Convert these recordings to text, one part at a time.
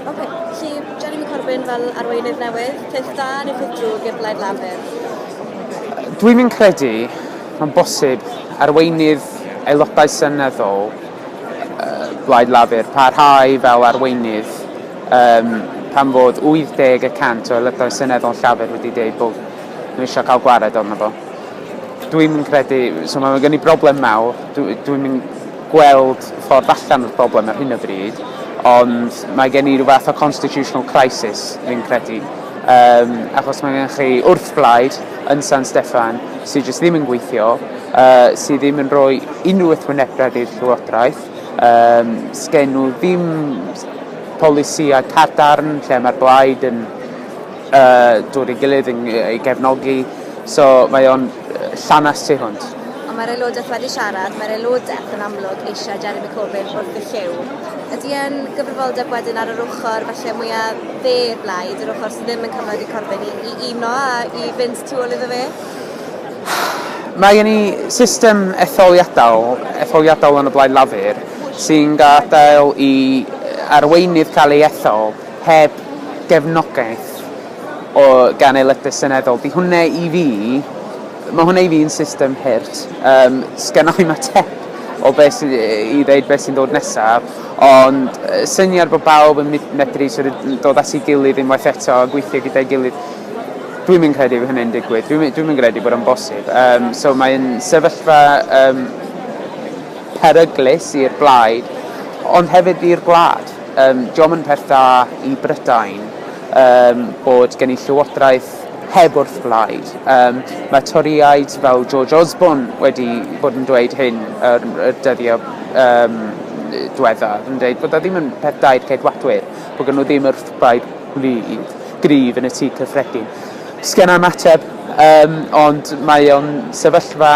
Okay. Felly, Jeremy Corbyn fel arweinydd newydd, peth da neu peth drwg i'r Blaid Lafur? Dwi'n mynd credu mae'n bosib arweinydd aelodau seneddol uh, Blaid Lafur parhau fel arweinydd um, pan fod 80 y cant o aelodau seneddol Llafur wedi dweud bod nhw eisiau cael gwared o'n fo. Dwi'n mynd credu, so mae'n gen i broblem mawr, dwi'n mynd gweld ffordd allan o'r broblem ar hyn o bryd, ond mae gen i rhyw fath o constitutional crisis, fi'n credu, um, achos mae gen chi wrthblaid yn San Steffan sydd jyst ddim yn gweithio, uh, sydd ddim yn rhoi unrhyw wrthwynebiad i'r llywodraeth, um, sgen nhw ddim polisiau cadarn lle mae'r blaid yn yy dod i gilydd yn yy i gefnogi so mae o'n yy llanast tu hwnt. Ond mae'r aelodaeth wedi siarad, mae'r aelodaeth yn amlwg eisiau Jeremy Corbyn wrth y llyw. Ydy e'n gyfrifoldeb wedyn ar yr ochr falle mwya' dde i'r blaid, yr ochr sy ddim yn cyfloedd i Corbyn i i uno a i fynd tu ôl iddo fe? Mae gen i system etholiadau etholiadol yn y Blaid Lafur sy'n gadael i arweinydd cael ei ethol heb gefnogaeth o gan aelodau seneddol. Di hwnna i fi, mae hwnna i fi'n system hurt. Um, Sgynna i mateb o beth sydd i ddeud beth sy'n dod nesaf, ond syniad bod bawb yn medru sort of, dod at ei gilydd unwaith eto a gweithio gyda'i gilydd, dwi'n mynd credu hynny'n digwydd, dwi'n dwi mynd credu bod o'n bosib. Um, so mae'n sefyllfa um, peryglus i'r blaid, ond hefyd i'r gwlad. Yym, dio'm yn peth da i Brydain yym bod gen i llywodraeth heb wrthblaid. Yym, mae Torïaid fel George Osborne wedi bod yn dweud hyn yr y dyddiau yym dwethaf, yn deud bod o ddim yn peth da i'r Ceidwadwyr, bod gen nhw ddim wrthblaid gwlydd, gryf yn y Tŷ Cyffredin. Sgenna i'm ateb, yym, ond mae o'n sefyllfa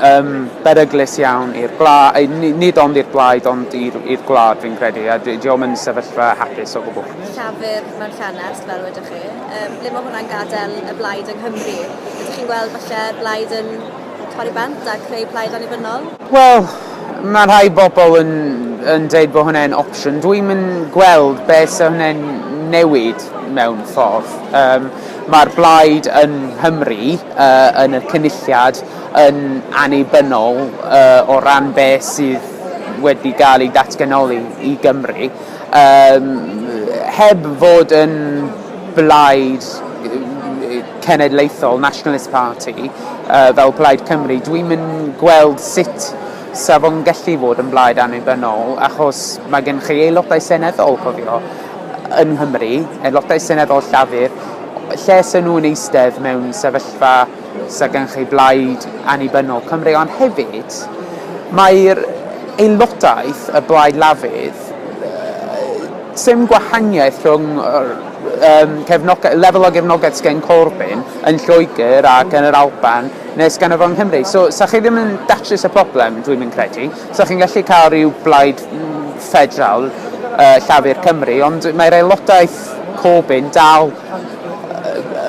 yn beryglus iawn i'r gwlad, nid ond i'r blaid ond i'r, i'r gwlad fi'n credu, a di o'm yn sefyllfa hapus o gwbl. Llafur mewn llanast, fel wedoch chi. Um, ble mae hwnna'n gadael y blaid yng Nghymru? Ydych chi'n gweld falle blaid yn torri bant a creu plaid annibynnol? Wel, mae rhai bobl yn, yn dweud bod hwnna'n opsiwn. Dwi'n mynd gweld beth sy'n hwnna'n newid mewn ffordd. Um, Mae'r blaid yn Nghymru uh, yn y cynulliad yn annibynnol o ran beth sydd wedi cael ei datganoli i Gymru, yym heb fod yn blaid cenedlaethol, nationalist party, fel Plaid Cymru, dwi'm yn gweld sut 'sa fo'n gallu fod yn blaid annibynnol, achos mae gennych chi aelodau seneddol, cofio, yng Nghymru, aelodau seneddol Llafur, lle 'sen nhw'n eistedd mewn sefyllfa... sydd gan chi Blaid Annibynnol Cymru, ond hefyd mae'r aelodaeth y Blaid Lafur, sdim gwahaniaeth rhwng lefel o gefnogaeth sydd gen Corbyn yn Lloegr ac yn yr Alban neu sydd ganddo fo yng Nghymru. So, 'sa chi ddim yn datrys y problem, dwi'm yn credu. 'Sa chi'n gallu cael rhyw blaid ffederal, Llafur Cymru, ond mae'r aelodaeth Corbyn dal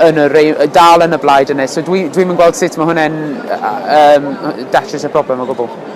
yn y rei- yy dal yn y blaid yne so dwi dwi'm yn gweld sut ma' hwnne'n yy yym yy datrys y problem o gwbwl.